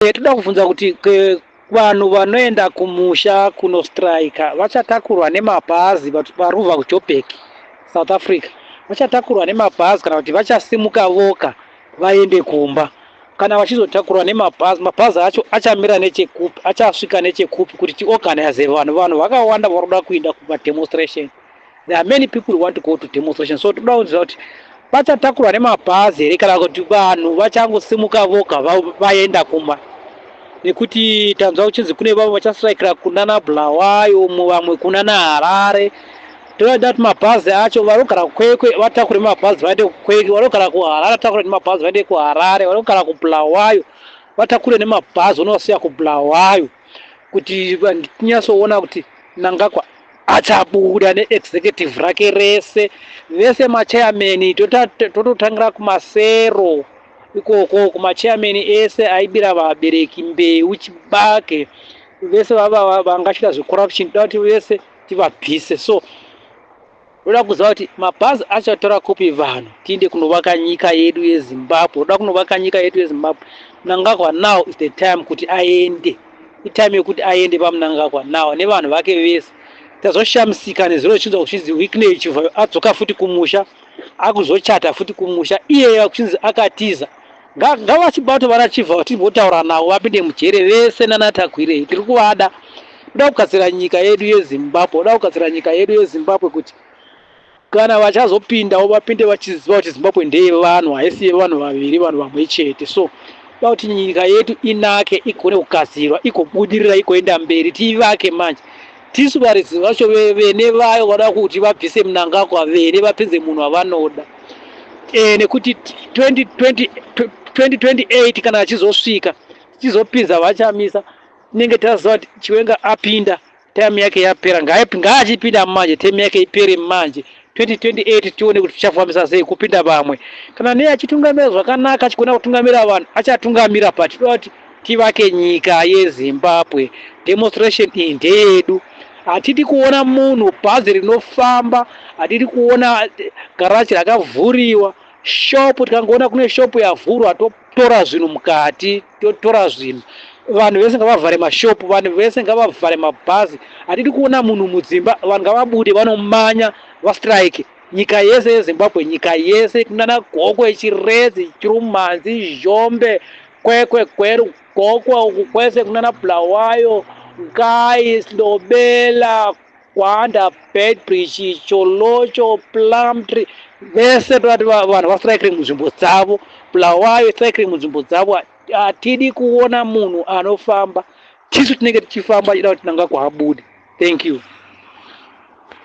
Eh, toda kubvunza kuti ke- vanhu vanoenda kumusha kunostrika vachatakurwa nemabhazi vat- varubva kujobek south africa vachatakurwa nemabhazi kana kuti vachasimuka voka vaende kumba kana vachizotakurwa nemabhazi mabhazi acho achamira nechekupi achasvika nechekupi kuti tiorganize vanhu vanhu vakawanda vari kuda kuenda kumademonstration There are many people who want to go to demonstration so toda kunzwa kuti vachatakurwa nemabhazi here kana kuti vanhu vachangosimuka voga vaenda kumba nekuti tanzwa kuchinzi kune vamwe vachastrikira kunana bulawayo umwe vamwe kunana harare toda kuti mabhazi acho vanogara kukwekwe vatakure mabhazi vaende kukwekwe vanogara kuharare vatakure nemabhazi vaende kuharare vanogara kubulawayo vatakure nemabhazi unovasiya kubulawayo kuti tinyatsoona kuti nangakwa achabuda neexecutive rake rese vese machairman tototangira kumasero ikoko kumachairman ese aibira vabereki mbeu chibage vese vangachita zvecorruption toda kuti vese tivabvise so Ndoda kuziva kuti mabhazi achatora kupi vanhu tiinde kunovaka nyika yedu yeZimbabwe. Ndoda kunovaka nyika yedu yeZimbabwe. Mnangagwa now is the time kuti aende. Itime yekuti aende paMnangagwa now nevanhu vake vese. Tazoshamisika nezuro zvichinzi kuchinzi Wickney Chivhayo adzoka futi kumusha akuzochata futi kumusha iyeye kuchinzi akatiza. Ngavachibato vana Chief ava timbotaura navo vapinde mujere vese nana Tagwirei tiri kuvada. Toda kugadzira nyika yedu yeZimbabwe, toda kugadzira nyika yedu yeZimbabwe kuti kana vachazopindawo vapinde vachiziva kuti Zimbabwe ndeyevanhu haisi yevanhu vaviri vanhu vamwe chete so toda kuti nyika yedu inake igone kugadzirwa igobudirira igoenda mberi tiivake manje Tisu varidzi vacho vene vayo vada kuti vabvise mnangagwa vene vapinze munhu wavanoda e, nekuti 2020, 2028 kana achizosvika tichizopinza vachamisa tinenge taziva kuti chiwenga apinda time yake yapera ngaachipinda manje time yake ipere manje 2028 tione kuti tichafambisa sei kupinda vamwe kana nei achitungamira zvakanaka achigona kutungamira vanhu achatungamira but tinoda kuti tivake nyika yezimbabwe demonstration iyi ndeyedu hatidi kuona munhu bhazi rinofamba hatidi kuona garaji rakavhuriwa shopu tikangoona kune shopu yavhurwa tora zvinhu mukati tora zvinhu vanhu vese ngavavhare mashop vanhu vese ngavavhare mabhazi hatidi kuona munhu mudzimba vanhu ngavabude vanomanya vastrike nyika yese yezimbabwe nyika yese kunana gokwe chiredzi chirumanzi zhombe kwekwe gweru gokwa uku kwese kunana bulawayo ngai slobela Kwanda, Beitbridge, Cholocho, Plumtree vese toti vanhu vastrikiri munzvimbo dzavo, Bulawayo strikiri munzvimbo dzavo. Hatidi kuona munhu anofamba, tisu tinenge tichifamba tichida kuti Mnangagwa abude. Thank you.